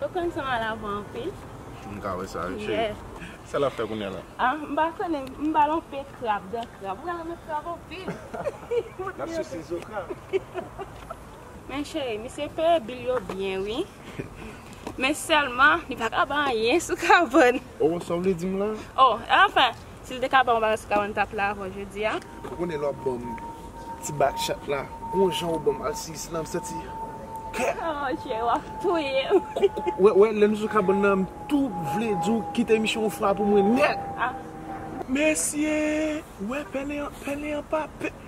Koko'm sanm al avan anpil. M ka wè sa wi cheri. Sa lap fè kounya la? Ah m pa konnen m bal on pe krab, dan krab. Mwen renmen krab anpil. Lap sise zo krab. Men cheri misye peye bil yo byen wi. Men sèlman li paka bay anyen sou kabòn. Oh sa w vle dim la? Oh enfin Sil te ka banm yon bagay sou kabann mtap la avèw jodia. Ou konnen lè wap banm ti batchat la gon jan ou banm alsiyis la msanti kè. Oh mon Dieu wap touyem. Wè lèm sou kabann nan mtou vle diw kite emisyon ou fwa pou mwen nèt. Mesye wè pèlen an pa pè.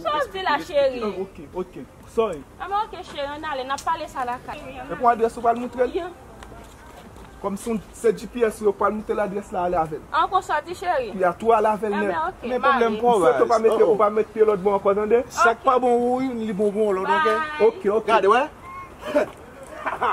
Sa w di la cheri? Ok, ok, sorry. Anben ok cheri, ann ale, nap pale sa la kay. E pou adrès ou pral moutre l? Kòm si se GPS ou yo pral moutre l adrès la ale avè l. An konsa w di cheri? Kou ya tou ale avè l nèt. Anben ok, m ale. M swete ou pa met pye lòt bò ankò tande. Sa k pa bon ou youn li bon pou yon lòt ok. Ok, gade wè. Hahha.